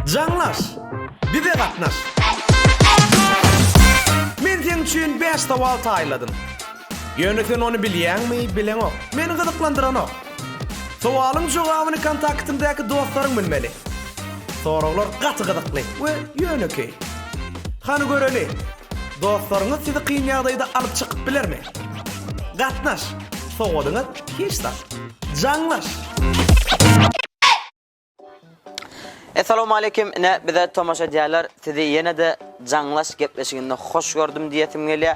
Jaňlaş! Bize gatnaş! Men seň üçin bäş sowal taýynladym. Ýöne sen ony bilýäňmi, bileňok. Meni gyzyklandyranok. Sowalyň jogabyny kontaktyňdaky dostlaryň bilmeli. Soraglar gaty gyzykly we ýönekeý. Hany göreli, dostlaryňyz sizi kyn ýagdaýda alyp çykyp bilermi? Gatnaş, sowalyňyz hiç zat. Jaňlaş! Essalowmaleýkim ine bize tomaşa edýärler sizi ýenede jaňlaş gepleşiginde hoş gördüm diýesim gelýä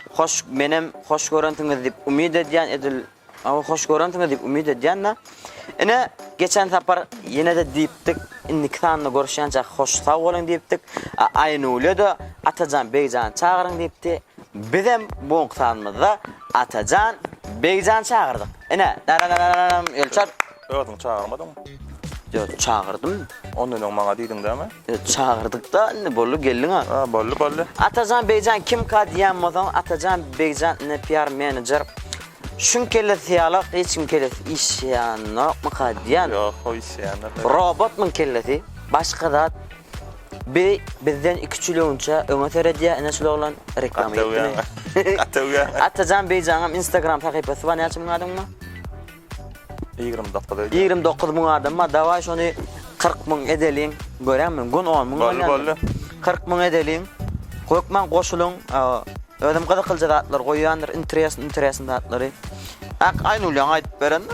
hoş menem hoş görensiňiz diýip umyt edýän edil aw hoş görensiňiz diýip umyt edýända ine geçen sapar ýenede diýipdik indiki sanda görüşýänçäk hoş sag boluň diýipdik a aýnuleda atajan begjany çagyryň diýipdi Bizem bu günki sanymyzda Atajan, Begjan çagyrdyk. Ine, dararararam Elçar. Özüň çagyrmadyňmy? Ýo, çagyrdym. Ondan öň maňa diýdiň dämi? Ýo, çagyrdyk-da, indi boldy, geldiň-ä. A, boldy, boldy. Atajan, Begjan kimka diýýän bolsaň, Atajan, Begjan indi PR menejer. Şuň kellesi ýalak, hiç kim kellesi işleýänokmyka diýýän. Ýok, o işleýändir. Robotmyň kellesi, başga zat. Bi bizden iki çüleunça öňe seredýä ine şul oglan reklama etdimi. Atawýa. Atajan Beýjaňam instagram sahypasy bar näçe müň adam bar? 29 öýdýä. 29 müň adam bar dawaý şony 40 müň edeliň görýäňmi gün 10 müň bolýa. Boldy boldy. 40 müň edeliň hökman goşulyň özem gyzykylja zatlar goýýandyr interesn interesn zatlary. Ak aýnulýaň aýdyp berende.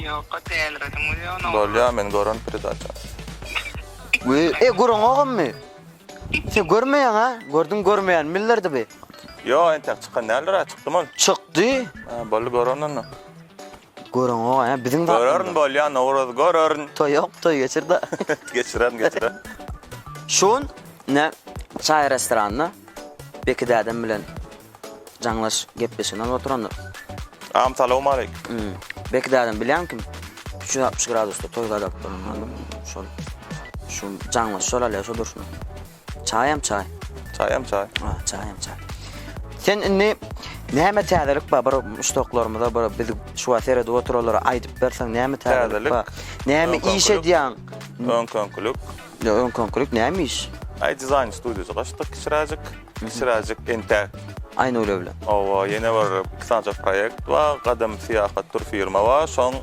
Ýoka dälirediň we ony oňa. Bolýa men gören predaça. We e gürüň ogamy. Sen görmeýäň a? Gördüň görmeýän millerdi bi. Ýo entäk çykan däldir a çykdymy ol. Çykdy. Hä boldy görerin onda. Görüň oga hä biziň zat. Görerin bolýa nowruz görerin. Toý ýok toý geçir da. Geçirerin geçirerin. Şun ne çaý restoranda Beki dädem bilen. Jaňlaş gepleşigini alyp oturandyr. Am salowmaleýk. Hum. Belki dädem bilýän kim? Üç ýüz altmyş gradusda toý gadap duran adam. Şol. Şu jaňlaş şol alýar şu durşuna. Çaýam çaý. Çaýam çaý. Ha, çaýam çaý. Sen indi näme täzelik bar bir muşdaklarymyza bir biz şu wagt seredip oturalara aýdyp berseň näme täzelik Täzelik. bar? Näme Öňki iş öňkülik. edýäň? Öňki öňkülik. Ýa öň konkret näme iş? Aý dizaýn studiýasy gaçdyk kiçiräjik. Kiçiräjik entäk. Aýnule bilen. Hawa ýene bir iki sanyja proýekt bar. Gadym syýahat tur firma bar. Şoň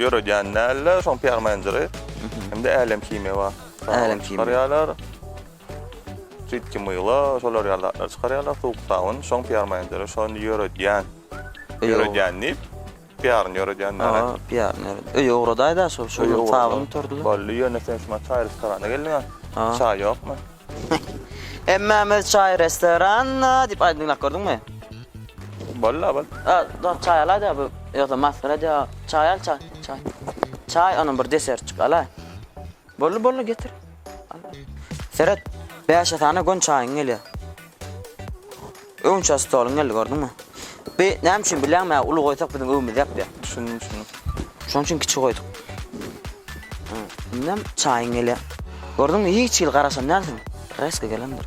ýöredýän dälde şoň PR menejeri. Hem-de Älem himiýa bar. Älem himiýa. Çykarýarlar. Jidki myla şolar ýaly zatlar çykarýarlar. Suwuk sabyn şoň PR menejeri. Şony ýöredýän. Ýöredýän diýip. Piýaryny ýöredýän näme? Hawa, piýaryny ýöredýän. Öýe ugradaý-da şol, şol gün sagyryň oturdylar. Boldy, ýöne sen şumat çaý-restorana geldiň-ä. Hawa. Çaý ýokmy? Hemmämiz çaý-restoranda diýip aýdym diňläp gördüňmi? Boldy-la, bol. A, dur, çaý alaý-da bu, ýogsa masgara edýär. Çaý al, çaý, çaý. Çaý, onam bir desertjik alaý. Boldy boldy getir. Seret. Bäşe sana gön çaýyň gelýär. Öňçe stoluň geldi gördüňmi? Bi näme üçin bilýäňmi? Uly goýsak biziň öwümüz ýapýar. Düşündim, düşündim. Şoň üçin kiçi goýduk. Indem çaýyň gelýär. Gördüňmi? Hiç hili garaşan dälsiň. Reski gelendir.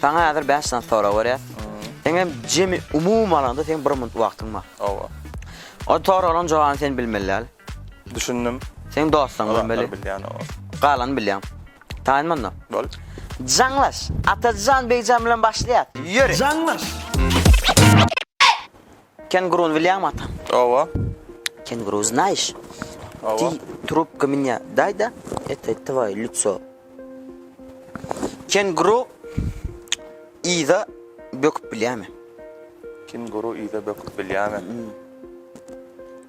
Saňa häzir bäş sany sorag berýäs. Eňem jemi umumy alanda seň bir minut wagtyň bar. Hawa. O soraglaryň jogabyny sen bilmeli däl. Düşündim. Seň dostuň bilmeli. Bar bilýän o. Galany bilýäň. Taýyn munda. Bol. Jaňlaş. Atajan Begjan bilen başlaýas. Ýöri. Jaňlaş. Kenguruny bilýäňmi ata? Oba. Kenguru znaýyş? Oba. Ti trubka mnýa daýda eto tvoýe lýutso. Kenguru yza böküp bilýämi? Kenguru yza böküp bilýämi?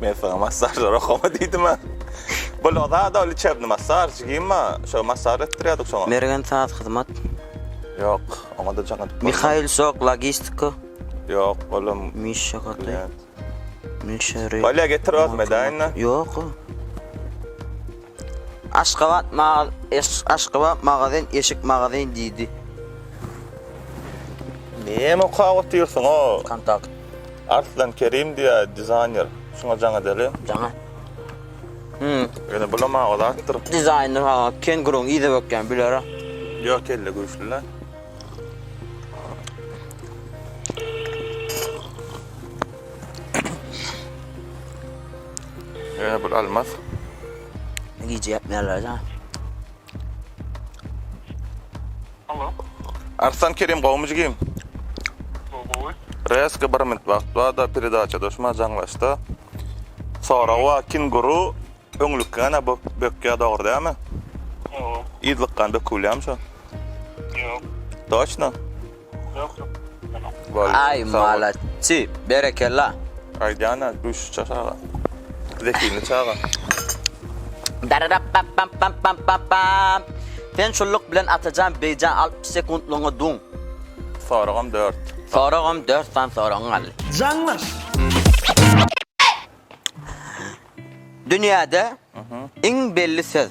Men sana massajlar okama diýdim ha. Bu loza da liçebni massaj gimma. Şo massaj etdirýärdik şoňa. Mergen saz hyzmat. Ýok, oňa da jaň edip. Mihail Sok logistika. Ýok, olam. Mişa gaty. Mişa. Bolýa getir özüm edäýin. Ýok. Aşgabat maga eşk Aşgabat magazin eşik magazin diýdi. Näme okap otyrsyňoo? Kontakt. Arslan Kerim diýä dizaýner. Şuňa jaňa däli. Jaňa. Hmm. Ýöne bulam aga zatdyr. Dizaýner ha, kenguruň yzy bökýän biler-a. Ýok kelle güýçli-le. Ýöne bul almaz. Gije ýatmaýarlar da. Alo. Arslan Kerim gowmy jigim? Gowy. Reski bir minut wagt barda peredaça döşme jaňlaşda. Sorawa kenguru öňlükgana bök bökýä dogry dämi? Ýok. Ýyzlykgan bökülýämi şo? Ýok. Toçno? Aý malaçy berekella. Aýdýana duşuşa çaga. Zehinli çaga. Dararapapampampampam. Sen şullyk bilen Atajan beýjan alpmyş sekuntlygyňy duň. Soragym dört. Soragym dört san soragyň galdy. Jaňlaş. Dünýäde iň belli söz.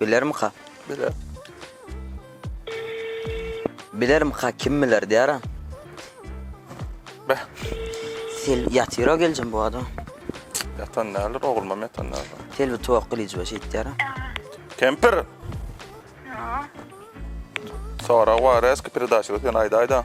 Bilermika? Biler. Bilermika kim biler diýarem. Beh. Sil ýatyra geljem bu adam. Yatan däldir, oglumam yatan däldir. Sil bir tuwak gylyjy we şeýt diýarem. Kempir! Sorag bar, eski peredaçyda sen aýdaýda.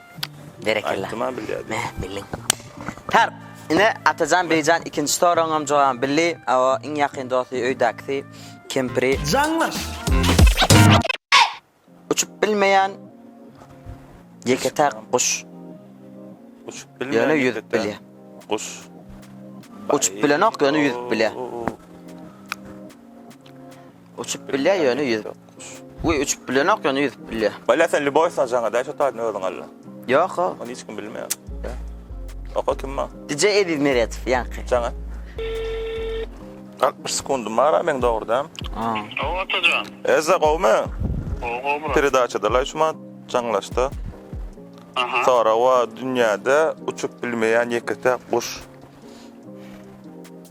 Berekella. Aýtdym-a bilýär diýip. Heh, bildiň. Tarp. Ine, Atajan beýjan ikinji soragyňam jogabyny bildi. Hawa, iň ýakyn dosty öýdäkisi, kempiri. Jaňlaş! Uçup bilmeýän ýeke-täk guş. Uçup bilmeýän Ýöne ýüzüp ýeke-täk bilýär. Guş. Uçup bilenok, ýöne ýüzüp bilýär. O-o-o. Uçup bilýär ýöne ýüzüp. Uý uçup bilenok ýöne ýüzüp bilýär. Bala sen Lübow sajaňa daş otaýdyň özüň alla. Ýok o. Ony hiç kim bilmeýär. Oka kim ma? DJ Eziz Meretow ýaňky. Jaňa. 60 sekundym bar a meň dogrudan. A. Gowy atajan. Eza gowmy? Gowy gowy brat. Peredaçada laý şuma jaňlaşda. Aha. Sorag bar dünýäde uçup bilmeýän ýeke-täk guş.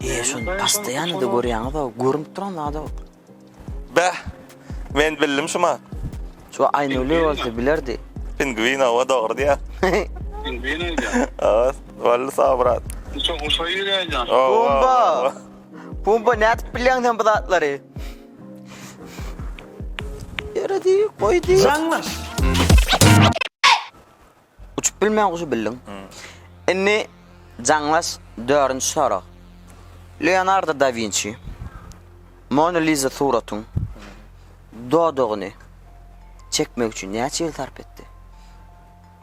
Eee şony pastaýanyda görýäňizä görünip duran zada bu. Bäh! Men bildim şu ma. Şu Aýnuli bolsa bilerdi. Pingwin owa dogry diýýär. Pingwin aýdýar. Owa boldy sag brat. Uça uça ýöräýýär. Pumba! Pumba nädip bilýäň sen bu zatlary? Ýöredi goýdy. Jaňlaş! Uçup bilmän guşy bildiň. Indi jaňlaş dördünji sorag. Leonardo da Winçi Mona Lisa suratyň dodagyny çekmek üçin näçe ýyl sarp etdi?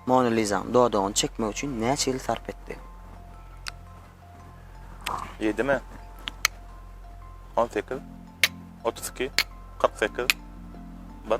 Mona Lisanyň dodagyny çekmek üçin näçe ýyl sarp etdi? Ýedimi? On sekiz? Otuz iki? Kyrk sekiz? Bir?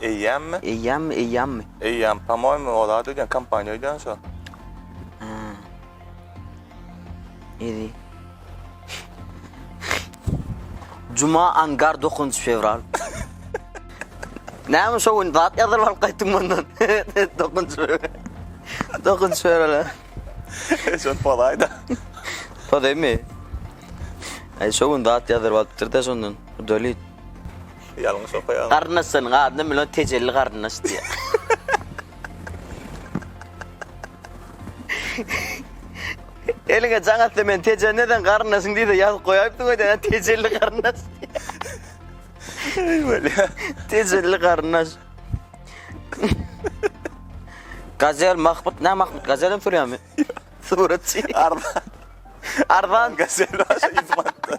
Eýýämmi? Eýýämmi, eýýämmi? Eýýäm, pomoýmy, o zat öýdýän, kompaniýa öýdýän şo. Hä. Ýedi. Juma, angar, dokuzynjy fewral. Näme şo gün zat ýazylyp alyp gaýtdyň mundan? Dokuzynjy fewral. Dokuzynjy fewral. he. Şony pozaý-da. Pozaýmy? Aý, şo gün zat ýazylyp alypdyr-da şondan, udalit. Ýalňyş okaýaň. Garyndaş seniň adyna Milon Tejelli garyndaş diýýär. Eliňe jaň atsa men Tejende sen garyndaşyň diýse ýazyp goýaýypdyň öýdä näme Tejelli garyndaş. Eý bolýa. Tejelli garyndaş. Gazel Mahmut näme Mahmut Gazel hem sürýärmi? Suratçy. Arzan. Arzan. Gazel aşa ýüz manatdan.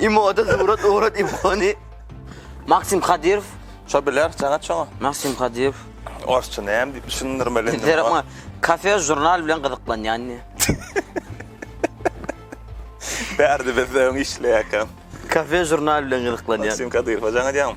Imoda surat urat imoni. Maksim Kadyrow. Şo biler, jaňat şoňa. Maksim Kadyrow. Orsça näme diýip düşündirmeli indi. Zerama kafe žurnal bilen gyzyklanýan diýe. Bärde biz öň işleýäkam. Kafe žurnal bilen gyzyklanýan. Maksim Kadyrow jaňat ýaňam.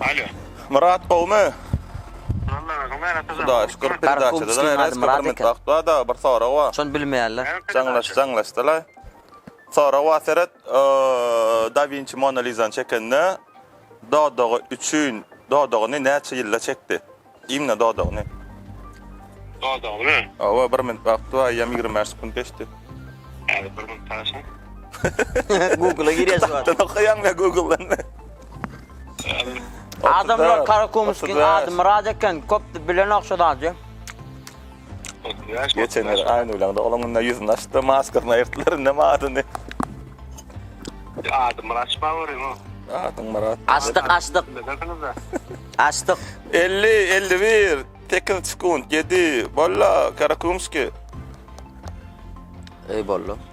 Alo. Myrat gowmy. Walla özüň näme atazan. Hudaýa şükür peredaçada da näme eski bir metbagt bar dagy bir sorag bar. Şony bilmeýärler. Jaňlaş jaňlaş dalaý. Sorag bar seret Da Winçi Mona Lizany çekende dodagy üçin dodagyny näçe ýylda çekdi. Diýmle dodagyny. Dodagyny? Hawa, bir minut wagty bar, eýýäm ýigrimi bäş sekunt geçdi. Häzir bir minut garaşaý. Google-a girýär şu wagt. Okaýaň we Google-dan. Adamlar Karakumyskiň ady Myrat eken, köp bilenok şu zady. Geçen ýyl aýny bileňde olaň indi ýüzüni açdy, maskasyny aýyrtdylar, indi hem adyny. Ady Myrat Şawaryň o. Adyň Myrat. Açdyk, açdyk. Açdyk. 50, 51, 8 sekund, 7, bolla, Karakumski. Ey bolla.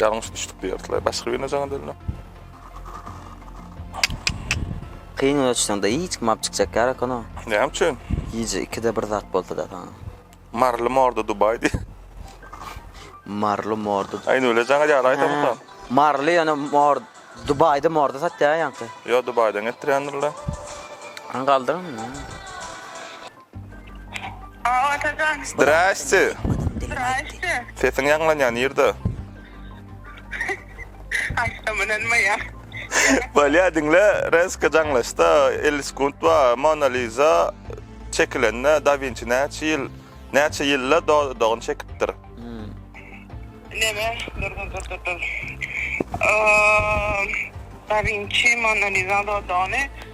Ýalňyş düşdük diýerdiler başga birine jaňa döndüm. Kyn göçseňde hiç kim apçykjak ýarakana. Näme üçin? Gije ikide bir zat bolsada saňa. Marly morda Dubai diý. Marly morda. Aýna öyle jaňa ýara aýtamyka. Marly ýöne mor Dubai'de morda satýar ýaňky. Ýo Dubai'den getirýändirler. Aň galdyň. Aa, Atajan. Zdraste. Zdraste. Sesiň ýaňlanýar nirde? Aýtsam ynanmaýar. Bolýa diňle, reska jaňlaşda 50 sekund ba, Mona Lisa çekilende Da Vinci näçe ýyl, näçe ýylda dodagyny çekipdir? Neme? Dur, dur, dur, dur, dur. Aa, Da Vinci Mona Lisa dodagyny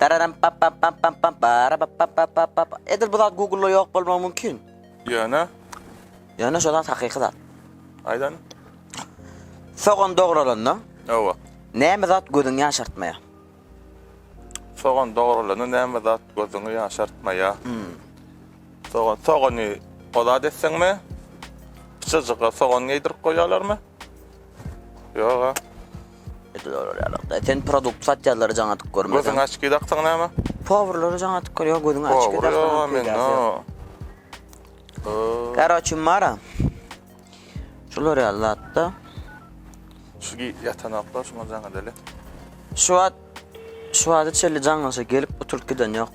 Dararam pap pap pap pap pap bara pap pap pap pap pap. Edil bu zat Google-da ýok bolmagy mümkin. Ýöne, Ýöne şo zat hakyky zat. aýdan. Sogan dogralandan Hawa. näme zat gözüňi ýaşartmaýar? Sogan dogrulandan näme zat gözüňi ýaşartmaýar? Sogan, sogany ozat etseňmi? Pyçajyga sogan geýdirip goýýarlarmy? Ýog-a. Sen produkt satýarlary jaň atyp görmedin. Gözüň açky daksaň näme? Powurlary jaň atyp gör, ýok gözüň açky daksaň. Powur men no. Karoçi mara. Şular ýaly zatda. Şu ýatanaklar şuňa jaň edeli. Şu wagt şu wagta çenli jaňlaşa gelip oturyp giden ýok.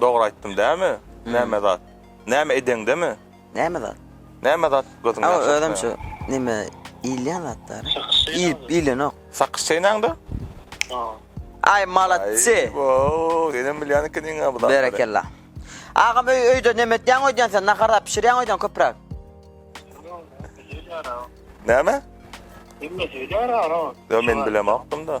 Dogry aýtdym dämi? Näme zat? Näme edeňdemi? Näme zat? Näme zat gözüňden çykmaýar? Awa özem şu neme iýilýän zatlar. Iýip iýilenok. Sakyş çeýnäňde? Aý malatsy. Woo senem bilýän ekeniňa bu zatlary. Berekella. Agam öý öýde neme etýäň öýdýän sen nahar zat bişirýäň öýdýän köpräk. Näme? Näme söýdýär agam? Yo men bilemokdym da.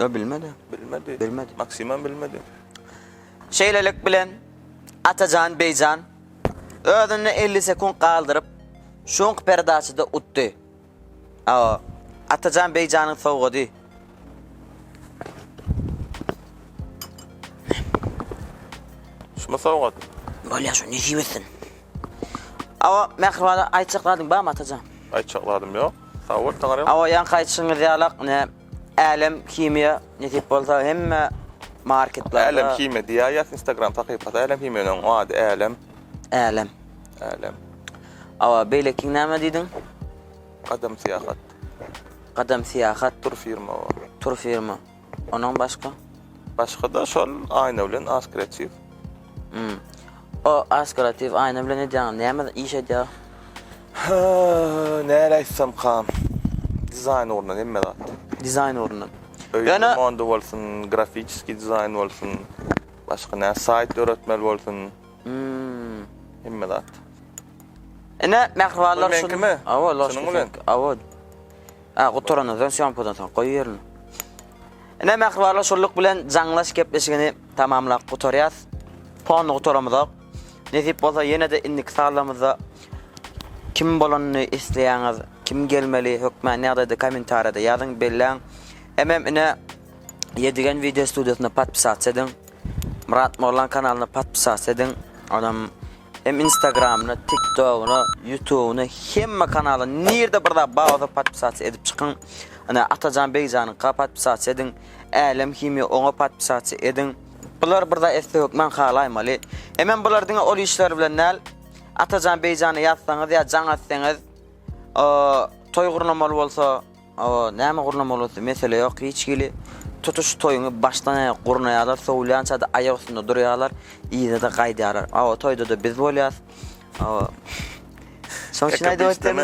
Ýok, bilmedi. Bilmedi. Bilmedi. Maksimam bilmedi. Şeýlelik bilen, Atajan Beýjan özüni elli sekunt galdyryp, şuňk perdaçada utdy. Aw, Atajan Beýjanyň sowgady. Şumy sowgat? Bolýa, şuny nesip etsin. Aw, mähriban aýtjaklaryň barmy, Atajan? Aýtjaklarym ýok. Sag bol, Taňyrýalkam. Aw, ýaňky aýtşyňyz ýalak, ne, Älem himiýa nesip bolsa hemme marketlarda. Älem himiýa diýä ýaz instagram sahypasy älem himiýanyň ady älem. Älem. Älem. Awa beýlekiň näme diýdiň? Gadam syýahat. Gadam syýahat. Tur firma o. Tur firma. Onuň başga? Başga-da şol aýna bilen askreatiw. Hum. O aşk kreativ aýna bilen edýäňiz näme iş edýär. Hööööö näle aýtsamkam. Dizaýn ugrundan hemme zat. Dizaýn ugrundan. Öýe Ýöne- remondy bolsun, grafiçeskiý dizaýn bolsun, başga nä saýt döretmeli bolsun, Hmmm. hemme zat. Ine mähribanlar Bul şunuň- meňkimi? Awa loşka Şunuň bilen? seňki. Awa. A gutarandan soň sýomkadan soň goýberme. Ine mähribanlar şulyk bilen jaňlaş gepleşigini Tamamlap gutarýas. Pony gutaramyzok. Nesip bolsa ýene-de indiki sazlamyzda kim bolanyny isleýäňiz, kim gelmeli hökmany ýagdaýda kommentariýada ýazyň, belläň. Hemem ine Ýedigen wideo studiýasyna podpisatsa ediň. Myrat Moglan kanalyna podpisatsa ediň. Onam hem Instagramyna, TikTogyna, YouTubyna, hemme kanala nirde bir zat bar bolsa podpisatsa edip çykyň. Ine Atajan Begjanyňka podpisatsa ediň. Älem himiýa oňa podpisatçy ediň. Bular bir zat etse hökman halaýmaly. Hemem bular diňe ol işler bilen däl. Atajan Beýjany ýazsaňyz ýa jaň etseňiz, toý gurnamaly bolsa, näme gurnamaly bolsa mesele ýok hiç hili. Tutuş toýuňy başdan aýak gurnaýarlar, sowulýançada aýak üstünde durýarlar, yza-da gaýdýarlar. Awa toýda-da biz bolýas. Şoň üçin aýdyp ötdüm.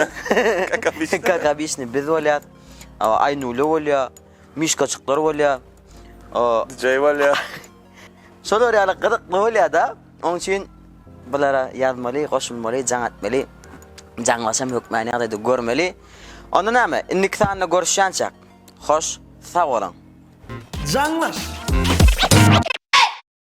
Kakabişni biz bolýas. Aýnule bolýar. Mişkaçyklar bolýar. O DJ bolýar. Şolar ýaly gyzykly bolýar-da. Onuň üçin bulara ýazmaly, goşulmaly, jaň etmeli. Jaňlaşam hökmany ýagdaýda görmeli. Onda näme, indiki sanda görüşýänçäk. Hoş, sag boluň. Jaňlaş!